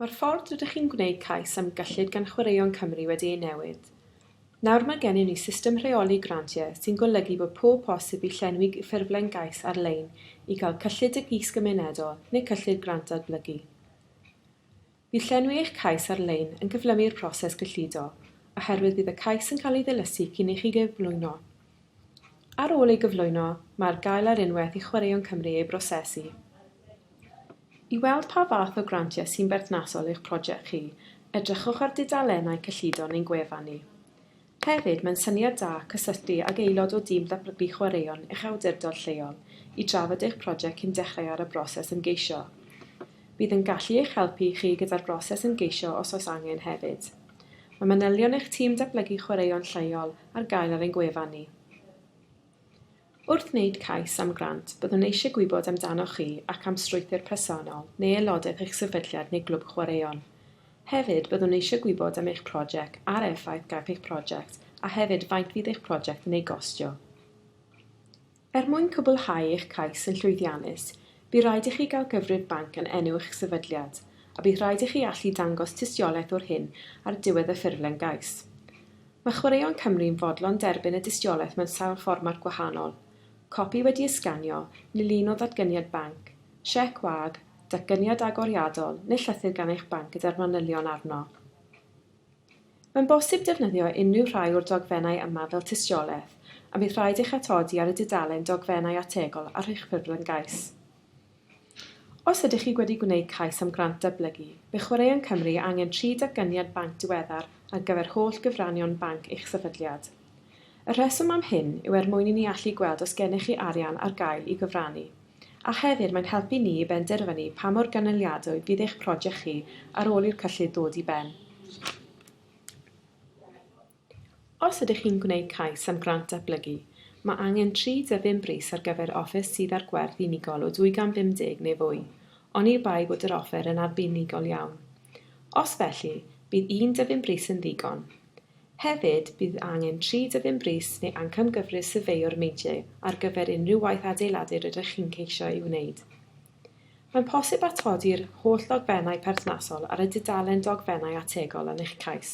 Mae'r ffordd rydych chi'n gwneud cais am gyllid gan Chwaraeon Cymru wedi ei newid. Nawr mae gennym ni system rheoli grantiau sy'n golygu bod pob posib i llenwi ffurflen gais ar-lein i gael cyllid Deg Is Gymunedol neu cyllid Grant Datblygu. Bydd llenwi eich cais ar-lein yn cyflymu'r proses gyllido, oherwydd bydd y cais yn cael ei ddilysu cyn i chi gyflwyno. Ar ôl ei gyflwyno, mae ar gael ar unwaith i Chwaraeon Cymru ei brosesu. I weld pa fath o grantiau sy'n berthnasol i'ch prosiect chi, edrychwch ar dudalennau cyllido neu'n gwefan ni. Hefyd, mae'n syniad da cysylltu ag aelod o dîm datblygu chwaraeon eich awdurdod lleol i drafod eich prosiect cyn dechrau ar y broses ymgeisio. Bydd yn gallu eich helpu chi gyda'r broses ymgeisio os oes angen hefyd. Mae manylion eich tîm datblygu chwaraeon lleol ar gael ar ein gwefan ni. Wrth wneud cais am grant, byddwn eisiau gwybod amdanoch chi ac am strwythur personol neu aelodaeth eich sefydliad neu glwb chwaraeon. Hefyd, byddwn eisiau gwybod am eich prosiect a'r effaith gaiff eich prosiect a hefyd faint fydd eich prosiect yn ei gostio. Er mwyn cwblhau eich cais yn llwyddiannus, Bydd rhaid i chi gael cyfrif banc yn enw eich sefydliad, a bydd rhaid i chi allu dangos tystiolaeth o'r hyn ar diwedd y ffurflen gais. Mae Chwaraeon Cymru'n fodlon derbyn y dystiolaeth mewn sawl fformat gwahanol, copi wedi ei sganio, neu lun o ddatganiad banc, siec wag, datganiad agoriadol neu llythyr gan eich banc gyda'r manylion arno. Mae'n bosib defnyddio unrhyw rhai o'r dogfennau yma fel tystiolaeth, a bydd rhaid eich atodi ar y dudalen Dogfennau Ategol ar eich ffurflen gais. Os ydych chi wedi gwneud cais am grant dyblygu, bydd Chwaraeon Cymru angen tri datganiad banc diweddar ar gyfer holl gyfranion banc eich sefydliad. Y rheswm am hyn yw er mwyn i ni allu gweld os gennych chi arian ar gael i gyfrannu. a hefyd mae'n helpu ni i benderfynu pa mor gynaliadwy bydd eich project chi ar ôl i'r cyllid ddod i ben. Os ydych chi'n gwneud cais am grant datblygu, mae angen 35 brys ar gyfer offer sydd â'r gwerth unigol o 250 neu fwy, oni bai bod yr offer yn arbenigol iawn. Os felly, bydd un dyfyn brys yn ddigon. Hefyd, bydd angen tri dyddyn brys neu ancamgyfrif syrfeio'r meidiau ar gyfer unrhyw waith adeiladu rydych chi'n ceisio ei wneud. Mae'n posib atodi'r holl ddogfennau perthnasol ar y dudalen dogfennau ategol yn eich cais.